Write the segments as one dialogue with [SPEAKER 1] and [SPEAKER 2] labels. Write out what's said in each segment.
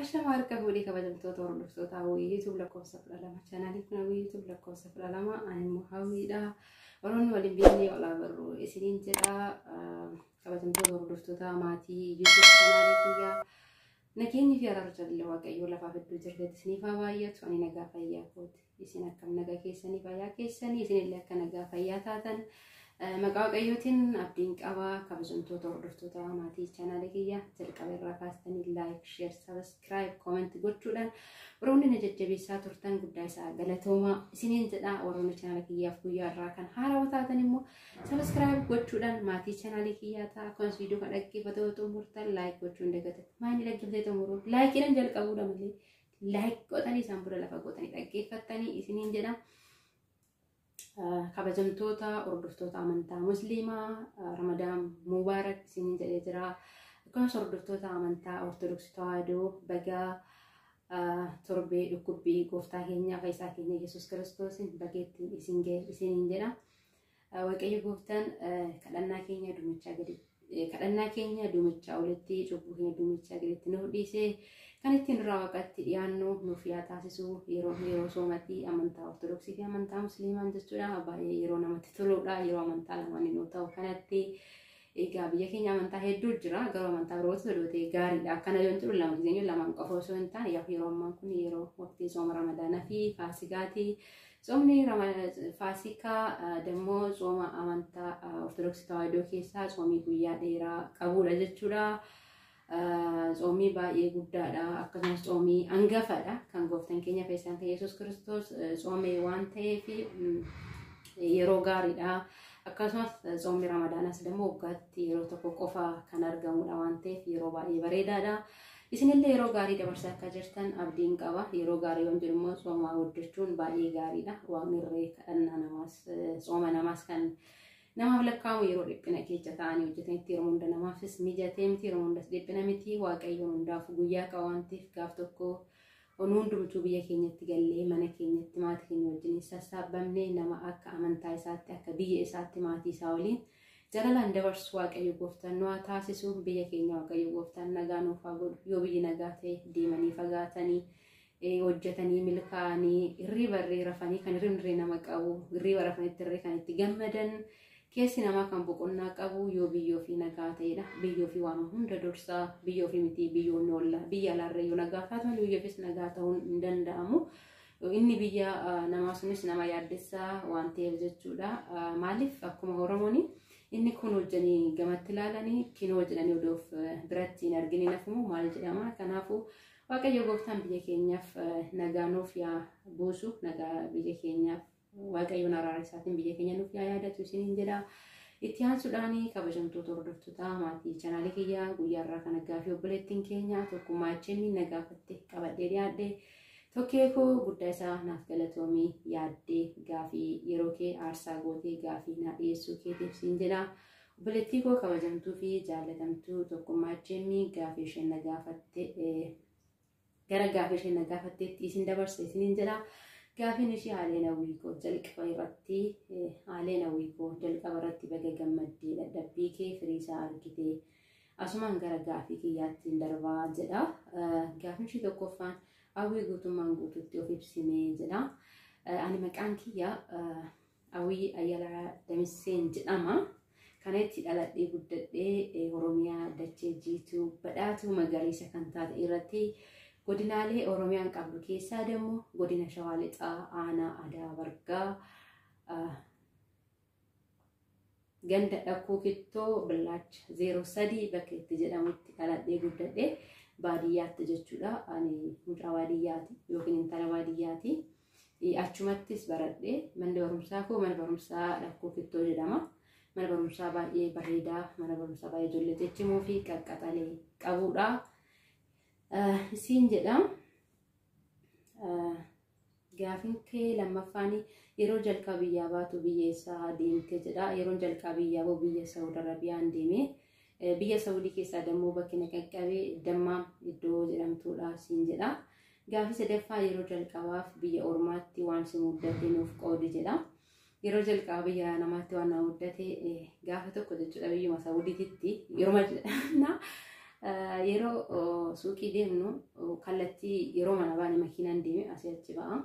[SPEAKER 1] Ashama harka fuudhee kabajamtoota hordoftoota hawwii YouTube lakkoofsa kudha lama chaanaalii kun hawwii YouTube lakkoofsa kudha lama ani immoo hawwiidha. Warroonni waliin beeknee olaa barru isiniin jedha. Kabajamtoota hordoftoota maatii YouTube chaanaalii kiyyaa Nageenyi fi araarri jaalalli Waaqayyoo lafaaf iddoo jirtetti isiniif haa baay'atu. Ani nagaa fayyaa kooti. Isin akkam nagaa keessanii fayyaa keessanii isinillee akka nagaa fayyaa taatan maqaa Waaqayyootiin abdiin qaba. Kabajamtoota hordoftoota maatii chaanaalii kiyyaa jalqaba irraa kaastanii laayik, sheer, sabiskiraayib, kooment gochuudhaan warroonni na jajjabeessaa turtan guddaa isaa galatoomaa isiniin jedha. Warroonni chaanaala kiyyaaf guyyaa irraa kan haarawa taatan immoo Subscribe gochuudhaan maatii chaanaalii kiyyaa ta'a. Akkasumas viidiyoo kana dhaggeeffatee yoo xumurtan like gochuun dagata. Maayini dhaggeeffatee xumuruu laayikiidhaan jalqabuudha malee like godhanii isaan booda lafa godhanii dhaggeeffattanii isiniin jedha. Kabajamtoota hordoftoota amantaa musliimaa Ramadaan Mubaarak isiniin jedhee jira. Akkasumas hordoftoota amantaa Ortodoksii Tawaahidoo bagaa torbee dhukkubbii gooftaa keenyaa fayyisaa keenya Yesuus Kiristoosiin bageettiin isiniin jedha. Waaqayyo gooftaan kadhannaa keenya duumichaa gadi kadhannaa keenya duumichaa olitti cubbuu keenya duumichaa gaditti nuuf dhiisee kan ittiin duraa waaqatti dhiyaannu nuuf yaa taasisu yeroo yeroo soomatii amantaa ortodoksii fi amantaa musliimaan jechuudha baay'ee yeroo namatti toludha yeroo amantaa lamaan yoo ta'u kanatti Egaa biyya keenya amantaa hedduu jira garuu amantaa birootu odootee gaariidha akkana yoon jedhu lama giseenyu lamaan qofa osoo hin taane yaa yeroo ammaa kun yeroo waqtii sooma ramadaanaa fi faasikaati soomni faasikaa dammoo sooma amantaa ortodoksii tawaahidoo keessaa soomii guyyaa dheeraa qabuudha jechuudha. Tsoomii baay'ee guddaadha. Akkasumas tsoomii angafadha. Kan gooftan keenya feesaan kan Yesuus Kiristoos tsoomee waan ta'eef yeroo gaariidha. Akkasumas tsoomni Ramadaanas immoo waggaatti yeroo tokko qofa kan argamudha waan ta'eef yeroo baay'ee bareedaadha. Isinillee yeroo gaarii dabarsaa akka jirtan abdiin qaba. Yeroo gaarii waan jedhu immoo tsoomaa hojjechuun baay'ee gaariidha. Waaqni irree kadhannaa namaas tsooma namaas kan Namaaf lakkaa'amu yeroo dhiphina keessa ta'anii hojjetanitti yeroo hunda namaafis mijatee miti yeroo hundas dhiphina miti waaqayyoon hundaaf guyyaa qaba waan ta'eef gaaf tokko nu hundumtuu biyya keenyatti gallee mana keenyatti maatii keenya wajjin sassaabamne nama akka amantaa isaatti akka biyya isaatti maatii isaa waliin jalalaan dabarsu waaqayyo gooftaan nu haa taasisu biyya keenya waaqayyo gooftaan nagaa nuuf haa godhu yoo biyyi nagaa ta'e deemanii fagaatanii hojjetanii milkaa'anii hirriba irree rafanii kan hirribni irree nama qabu hirriba rafanitti irree kan itti gammadan keessi namaa kan boqonnaa qabu yoo biyyoo fi nagaa ta'edha biyyoo fi waan hunda dursaa biyyoo fi miti biyyoon oolla biyya alaarra yoo nagaa taatan biyyoofis nagaa ta'uun hin danda'amu. Inni biyya namaa sunis nama yaaddessaa waan ta'eef jechuudha. Maaliif akkuma Oromoon inni kun hojjanii gamatti ilaalanii kinoo jedhanii odoof biratti hin argine nafumoo maal jedhama. Kanaafuu Waaqayyo gooftaan biyya keenyaaf nagaa nuuf yaa buusu nagaa biyya keenyaaf waaqayyoon araara isaatiin biyya keenya nuuf yaa yaadatu isiniin jedha. Itti aansuudhaan kabajamtoota hordoftoota maatii chanaalii kiyyaa guyyaa irraa kana gaaffii obboleettiin keenya tokkummaa HM na gaafatte qabadhee dhiyaadhe. Tokkee koo guddaa isaa naaf galatoomii yaaddee gaaffii yeroo kee aarsaa gootee gaaffii naa dhiyeessuu keetiif siin jedha. Obboleettii koo kabajamtuu fi jaallatamtuu tokkummaa HM gaafii isheen na gaafatte gara gaafii isheen na gaafatteetti isin dabarsa isiniin jedha. Gaafiin ishee haaleen hawwii koo jalqaba irratti haaleen hawwii koo jalqaba irratti baga gammaddee dadhabbii kee firii isaa argite asumaan gara gaafii kiyyaatti hin darbaa jedha. Gaafiin ishee tokkoffaan hawwii guutummaan guutuutti of ibsimee jedha. Ani maqaan kiyya Awii Ayalaa Damisseen jedhama. Kana itti dhaladhee guddadhee Oromiyaa dachee jiituu badhaatuu magariisa kan taate irratti godinaalee Oromiyaan qabdu keessaa dammoo godina Shawaa Lixaa aanaa Adaa Bargaa Ganda Dhakkuu Kittoo Billaacha 03 bakka itti jedhamutti dhaladhee guddadhe baadiyyaatti jechuudha. Ani mucaa baadiyyaati yookiin intala baadiyyaati. Achumattis baradhe manni barumsaa koo mana barumsaa Dhakkuu Kittoo jedhama. Mana barumsaa baay'ee bareedaa mana barumsaa baay'ee ijoollee ciccimoo fi qaqqaxalee qabudha. Isiin jedhama. Gaafin kee lammaffaan yeroo jalqaba biyyaa baatu biyya eessaa deemte jedha. Yeroon jalqaba biyyaa ba'u biyya Saawud Arabiyaan deeme. Eh, Biyya Saawudii keessaa dammoo bakki na qaqqabe dammaa iddoo jedhamtuudha siin jedha. Gaafii sadaffaa yeroo jalqabaaf biyya ormaatti waan si muddate nuuf qoodi jedha. Yeroo jalqaba biyya namaatti waan nama muddate gaafa tokko jechuudha biyyuma Saawudiititti yeruma na yeroo suuqii deemnu kallattii yeroo mana baane makiinaan deeme asii achi ba'a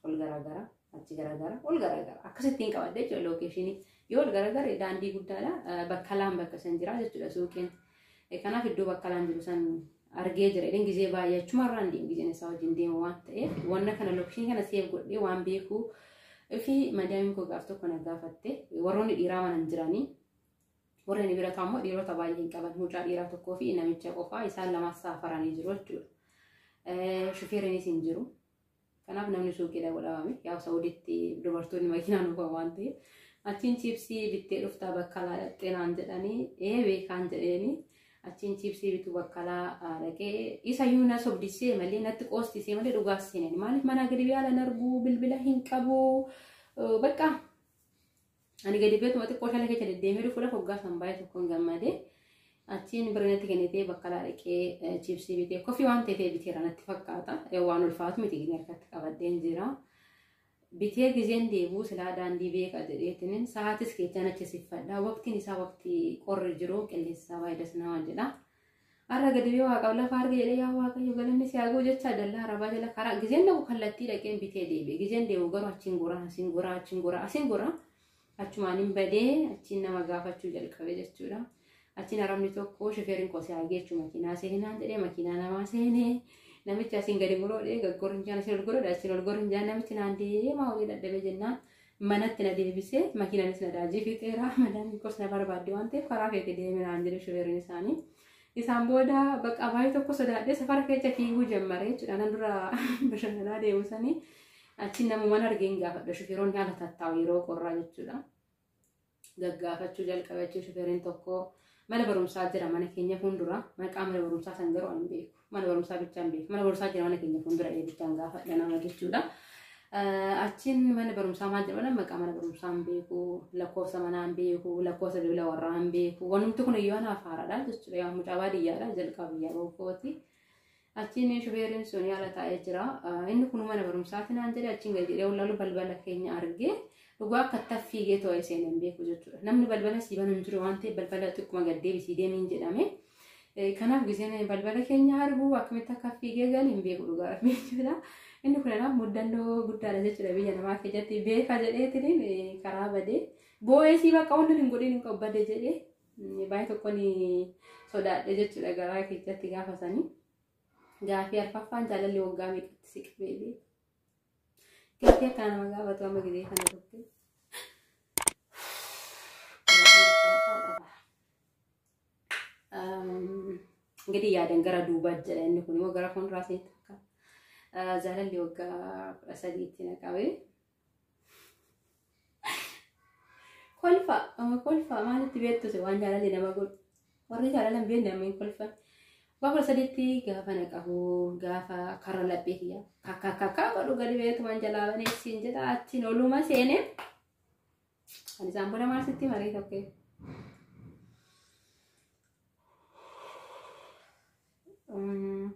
[SPEAKER 1] ol garaagara achi garaagara ol garaagara akkasitti hin qabadde jechuudha lookeeshinii yoo ol garaagara daandii guddaadha bakka laan bakka san jira jechuudha suuqiin. Kanaaf iddoo baqqalaan jiru san argee jira jedheen gizee baay'ee achuma irraan deemu gizeen isaa wajjin deemu waan ta'eef wanna kana lookishinii kana seef godhee waan beeku fi madaamiin koo gaaf tokko na gaafatte warroonni dhiiraa mana hin jiranii warri inni bira ta'u ammoo dhiirota baay'ee hin qaban mucaa dhiiraa tokkoo fi namicha qofaa isaan lamaan saafaranii jiru jechuudha. Shufeeriinis hin jiru. Kanaaf namni suuqii dhaqu dhabame. Yaa Sa'uditti dubartoonni makiinaan oofan waan ta'eef. Achiin chiipsii bittee dhuftaa bakkalaa dhaqxee naan jedhanii ee beekaan jedheeni. Achiin chiipsii bituu bakkalaa dhaqee isa iyyuu na sobdisee malee natti qoostisee malee dhugaa seenani. Maaliif manaa gadi biyaala hin arguu bilbila hin qabu bakka Ani gadi beetuma xiqqoo shala keessa deddeemee dhufuudha hoggaa san baay'ee tokkoon gammade. Achiin birnatti kennitee bakka laa dhaqee chiipsii bitee kofi waan ta'eef biteera natti fakkaata. Waan ulfaatu miti gini harkatti qabadheen jira. Bitee gizeen deebuu silaa daandii beeka jedheetiin sa'aatis keechaan achi siffadha. Waqtiin isaa waqtii qorri jiru qilleensi isaa baay'ee das nama jedha. Har'a gadi bee waaqaaf lafa arge jedhee yaa waaqayyo galanni si haa ga'u jechaa dallaa arabaa jala karaa gizeen dhaqu kallattii dhaqeen bitee deebi'e gizeen deemu garuu achiin goraa asiin goraa achiin goraa asiin goraa achumaan hin badee achiin nama gaafachuu jalqabe jechuudha. Achiin arabni tokko shifeeriin koo si haa geechu makiinaa seenaan jedhee makiinaa namaa seenee namichi asiin gadi muroodhee gaggorinjaan asiin ol gorodha achiin ol gorinjaan namichi naan deemaa olii dadhabee jennaan Manatti na deebisee makiinanis na daajii fixeera madaamiin koos na barbaadde waan ta'eef karaa keetti deemi naan jedhe shufeeriin isaanii. Isaan booda bakka abaayii tokko sodaadhee safara keessa fiiguu jammare jechuudha. Nan dura bashannanaa deemu sanii achi namuman argeen gaafadha shufeeronni haala tattaa'u yeroo qorraa jechuudha. gaggaafachuu jalqabe achi shufeeriin tokko mana barumsaa jira mana keenya fuuldura maqaa mana barumsaa san garuu hin beeku mana barumsaa bichaan beeku mana barumsaa jira mana keenya fuuldura ee bichaan gaafadha nama jechuudha. Achiin mana barumsaa maal jedhama maqaa mana barumsaa hin beeku lakkoofsa manaa hin beeku lakkoofsa bilbila warraa hin beeku wanumti kun iyyuu anaaf haaraadha jechuudha yaa mucaa baadiyyaadha jalqaba biyyaa bookootii. Achiin shubeeriin sun yaala taa'ee jira. Inni kun mana barumsaati naan jedhe achiin gadi jedhee wallaalu balbala keenya argee dhugaa akka itti fiigee too'ee seenan beeku jechuudha. Namni balbala sii banu hin jiru waan ta'eef balbala xiqquma gad deebisii deemiin jedhame. Kanaaf giseen balbala keenya argu akkamitti akka fiigee galu hin beeku dhugaa rabbi jechuudha. Inni kun kanaaf muddannoo guddaadha jechuudha biyya namaa keessatti beeka jedheetiin karaa badee boo'ee sii bakka wanti hin godhin hin qabu bade jedhee Baay'ee tokkoon sodaadhe jechuudha garaa keessatti gaafa sanii. Gaafii arfaffaan jaalalli waggaa meeqatti si qabeebe? Gaafii akka nama gaafatu amma gidee kana turte. Gadi yaadan gara duubaa jedha inni kun immoo gara fuulduraa seenta akka jaalalli waggaa kudha sadiitti na qabee. kolfa ama kolfa maalitti beektu si waan jaalalli nama godhu warri jaalalan beekne amma hin kolfan bakka sadiitti gaafa na qabu gaafa karra laphee kiyya kakka kakka godhu gadi beektu waan jalaa banee siin jedha achiin oluma seene kan isaan booda maal sitti marii tokkee. Mm.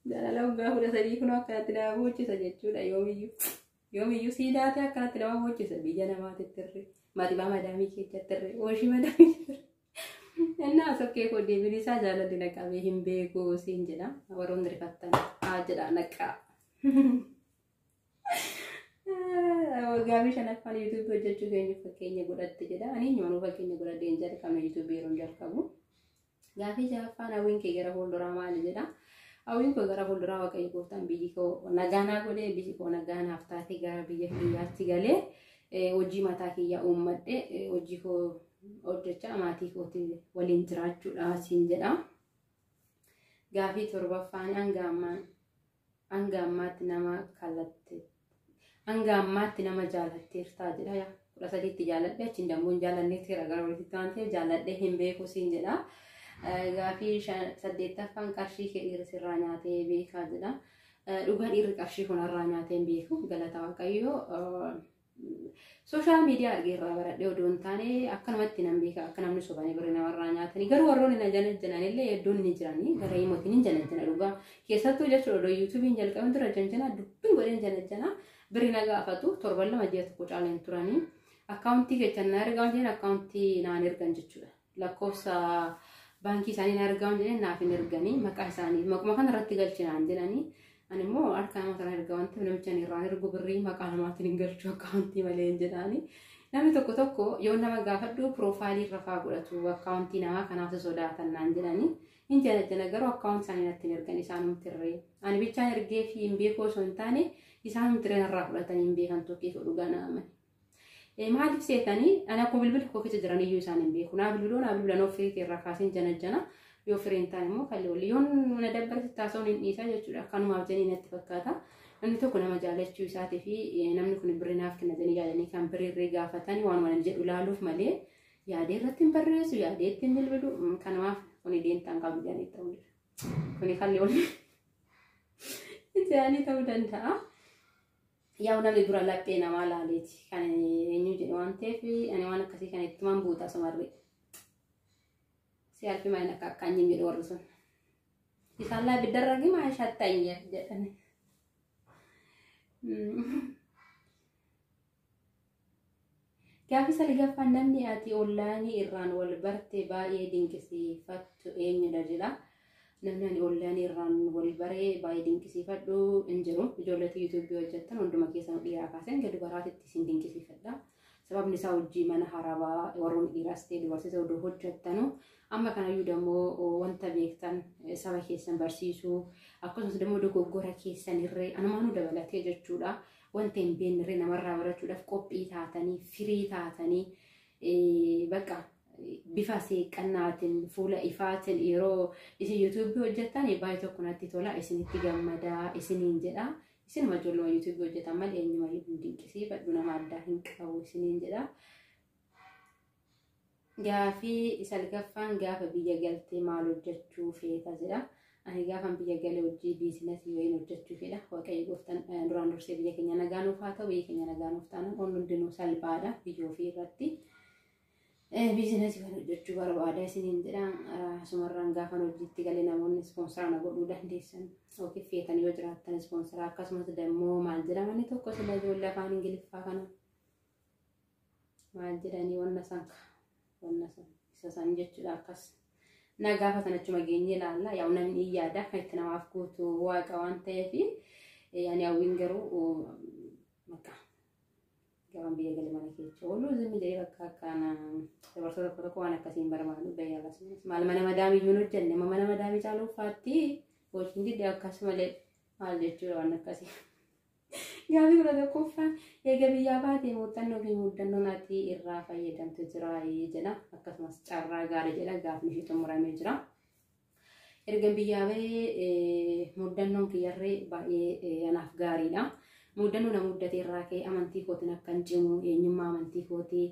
[SPEAKER 1] Jaalala waggaa kudha sadii kun akkanatti nama boochisa jechuudha yoomiyyuu. Yoomiyyuu sii daatee akkanatti nama boochisa biyya namaatti tirree. Matimaa madaamii keessatti tirree. Ooshii madaamii tirree. Innaa sokkee koo deebiin isaa jaalalli na qabee hin beeku siin jedha. Warroonni rifattan haa jedhaa naqqaa. Waggaamii shanaffaan yuutuubii hojjechuu keenya fakkeenya godhatte jedha. Ani eenyumaan fakkeenya godhadhee hin jalqabne yuutuubii yeroo hin jalqabu. Gaafii ja'affaan hawwiin kee gara fuulduraa maali jedha. Hawwiin koo gara fuulduraa waaqayyo gooftaan biyyi koo nagaanaa godhee biyyi koo nagaanaaf taatee gara biyya kiyyaatti galee hojii mataa kiyyaa uummadhee hojii koo hojjechaa maatii kootii waliin jiraachuudha siin jedha. Gaafii torbaffaan hanga ammaa hanga ammaatti nama kallatte hanga ammaatti nama jaalatteertaa jedha yaa kudha sadiitti jaaladhe achiin dammoo hin jaalanneetti gara walitti waan ta'eef jaaladhe hin beeku siin jedha. Gaafii saddeettaffaan qarshii kee dhiirri sirraa nyaatee beekaa jedha. Dhugaa dhiirri qarshii kanarraa nyaatee hin beeku galata waaqayyoo. Sooshaal miidiyaa argee irraa baradhee odoo hin taane akkanumatti nan beeka akka namni sobanii birri namarraa nyaatanii garuu warroonni na janajjanan illee hedduun ni jiranii gara himotiin hin janajjana dhugaa keessattuu jechuudha odoo yuutuubiin jalqabin dura janjana dubbii godheen janajjana birri na gaafatu torban lama ji'a tokko caaleen turanii akkaawuntii keessan na ergaa jeen akkaawuntii naan ergan jechuudha. lakkoofsa baankii isaanii hin argamu jedhanii naaf hin erganii maqaa isaanii maquma kana irratti galchinaan jedhanii ani immoo harka nama sana erga wanti namicha ani irraan ergu birrii maqaa namaatiin hin galchu akkaawuntii malee hin jedhaanii namni tokko tokko yoo nama gaafadhu piroofaayilii irra faa godhatu akkaawuntii namaa kanaaf si sodaatan naan jedhanii hin janajjana garuu akkaawuntii isaanii natti hin ergan isaanumti irree ani bichaan ergee fi hin beekuu osoo hin taane isaanumti irree narraa fudhatanii hin beekan tokkee dhugaa naamani. Maaliif seetanii ana koo bilbila koo keessa jiran iyyuu isaan hin beeku. Naa bilbiloo naa bilbilan of firii irraa kaaseen janajjana. Yoo firii hin taane immoo kalli walli. Yoon na dabbarti taasisuun hin dhiisaa jechuudha. Kanumaaf jenii natti fakkaata. Namni tokko nama jaalachuu isaatii fi namni kun birri naaf kenna jedhanii yaadanii kan birrii gaafatanii waan waan jedhu ilaaluuf malee yaadee irratti hin barreessu yaadee itti hin bilbilu kanumaaf kuni deemtaan qabu jedhanii ta'uu Kuni kalli walli. Jedhanii ta'uu danda'a. Yaa'u namni dura laphee namaa laaleeti kan eenyu jedhu waan ta'eef ani waan akkasii kan itti man buuta sumarri. Si alfi maayina akka akka anyi jedhu warri sun. Isaan laa biddarra gima shatta hin jedhani. Gaafii salgaffaa namni ati online irraan wal barte baay'ee dinqisiifattu eenyudha jedha. Namni ani online irraan wal bare baay'ee dinqisiifadhu hin jiru. Ijoolleetu YouTube hojjettan hunduma keessan dhiiraa kaasee hanga dubaraatitti isin dinqisiifadha. Sababni isaa hojii mana harabaa warroonni dhiiraas ta'e dubarsiisa oduu hojjettanu amma kanayyuu dammoo wanta beektan saba keessan barsiisuu akkasumas dammoo dogoggora keessan irree anumaanuu dabalatee jechuudha. Wanta hin beeknerree namarraa barachuudhaaf qophii taatanii, firii taatanii, eh, bakka bifa seeqqannaatiin, fuula ifaatiin yeroo isin yuutuubii hojjettan baay'ee tokko natti tola, isinitti gammadaa, isiniin jedha. Isinuma ijoolluma yuutuubii hojjetan malee eenyumayyuu hin dinqisiifadhu, nama addaa hin qabu isiniin jedha. Gaafii salgaffaan gaafa biyya galtee maal hojjechuu feeta jedha. Ani gaafan biyya galee hojii biizinasii wayiin hojjechuu fedha. Waaqayyo gooftan duraan dursee biyya keenya nagaa nuuf haa ta'u biyya keenya nagaa nuuf taana wanni hundinuu salphaadha biyya ofii irratti. Biizinasii waan hojjechuu barbaada isiniin jedha. Asumarraan gaafan hojiitti galee namoonni ispoonsaraa na godhuu dandeessan yookiin feetan yoo jiraattan ispoonsaraa akkasumas dammoo maal jedhamani tokko sila ijoollee afaan ingiliffaa kana. maal jedhanii wanna san ka wanna san isa san jechuudha akkas na gaafatan achuma geenye ilaalla yaa namni in yaada kan itti namaaf guutu waaqa waan ta'eef yaani hawwiin garuu bakka gaban biyya galee mana keessa ooluu zimmi jedhee bakka akkaana dabarsa tokko tokko waan akkasiin barbaadu bayyaa lasumas maal mana madaamii iyyuu hin hojjenne amma mana madaamii caaluu faatti hojiin didde akkasumalee maal jechuudha waan akkasii. Gaaffii kudha tokkoffaan eega biyyaa baatee muuxannoo fi muddannoon ati irraa fayyadamte jira jedha. Akkasumas carraa gaarii jedha gaafni ishee xumuramee jira. Ergan biyyaa bahee muddannoon kiyyarree baay'ee anaaf gaariidha. Muddannoo na muddate irraa ka'ee amantii kootiin akkan cimu eenyummaa amantii kootii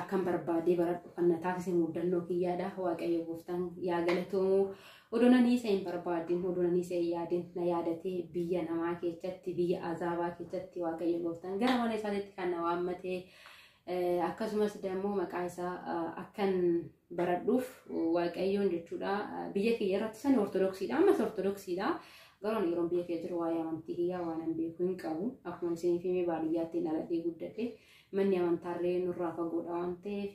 [SPEAKER 1] akkan barbaadee baradhu kan na taasise muudannoo kiyyaadha waaqayyo gooftaan yaa galatoomu odoo nanii isa hin barbaadin odoo nanii isa hin yaadin na yaadatee biyya namaa keessatti biyya azaabaa keessatti waaqayyo gooftaan gara mana isaatitti kan na waammatee akkasumas immoo maqaa isaa akkan baradhuuf waaqayyoon jechuudha biyya kiyya irratti sani ortodoksiidha ammas ortodoksiidha garuu yeroo biyya kiyya jiru waa'ee amantii kiyyaa waan hin beeku hin qabu akkuma isiniif himee baadiyyaatti dhaladhee guddadhe manni amantaarree nurraa fagoodha waan ta'eef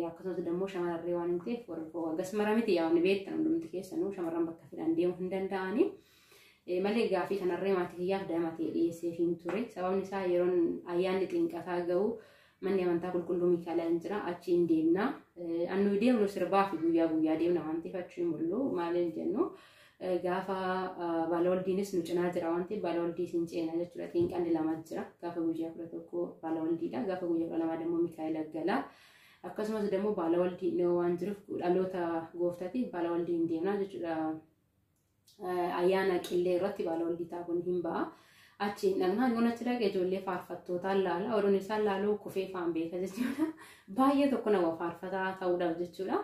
[SPEAKER 1] akkasumas immoo shamararree waan hin ta'eef warra akkas mara miti yaa wanni beektan hundumti keessanuu shamarran bakka fedhan deemuu hin danda'anii. Malee gaafii kanarree maatii kiyyaaf daa'ima ta'e dhiyeesseef hin ture. Sababni isaa yeroon ayyaanni xinqataa ga'u manni amantaa qulqulluu Miikaa'elaa hin jira achi hin deemna. Annu deemnu sirbaa fi guyyaa guyyaa deemna waan ta'eef achi hin mul'u maal hin jennu. Gaafa baalawaldiinis nu cinaa jira waan ta'eef baalawaldii isin ceena jechuudha. Xiinqalli lama jira. Gaafa guyyaa kudha tokko baalawaldiidha. Gaafa guyyaa kudha lamaa immoo Mikaa'ela gala. Akkasumas immoo baalawaldii dhiyoo waan jiruuf dhaloota gooftaatiin baalawaldiin deemna jechuudha. Ayyaana qillee irratti baalawaldii taa'uun hin ba'a. Achiin dhaqnaan yoon achi dhaqe ijoollee faarfattootaan laala. Oduun isaan laaluu kufee faan beeka jechuudha. Baay'ee tokko nama faarfataa ta'uudhaaf jechuudha.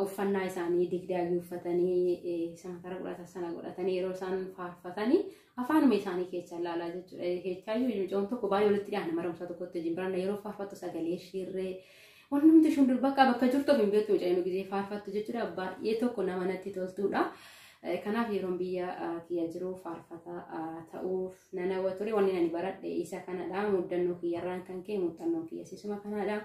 [SPEAKER 1] Uffannaa isaanii digdaayyuu uffatanii eh, isaan kara godhatan sana godhatanii yeroo isaan faarfatanii afaanuma isaanii keessa laalaa jechuudha. Keechaayyuu mucoon tokko baay'ee walitti dhiyaana marumsa tokkotti wajjin baranna yeroo faarfattu sagalee shiirree Waan namatti ishun dur bakka bakka jirtu hin beektu mucayyoo gizee faarfattu jechuudha baay'ee tokko nama natti toltuudha. Kanaaf yeroon biyya kiyya jiru faarfata ta'uuf nan hawwa ture wanni ani baradhe isa kanadha muddannoo kiyyarraan kan ka'e muuxannoon kiyya sisuma kanadha.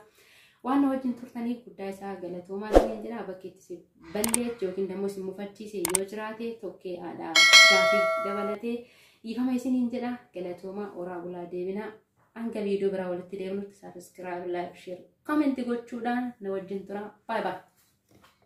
[SPEAKER 1] Waan na wajjin turtaniif guddaa isaa galatoomaa ta'een jira bakki itti si balleetti yookiin dammoo si mufachiise yoo jiraate tokkee haadha gaafii dabalatee dhiifama isiniin jedha galatoomaa oraa bulaa deebinaa. Hanga viidiyoo biraa walitti deemnutti sabiskiraayib, laayik, sheer, koomenti gochuudhaan na wajjin tura. Baay baay.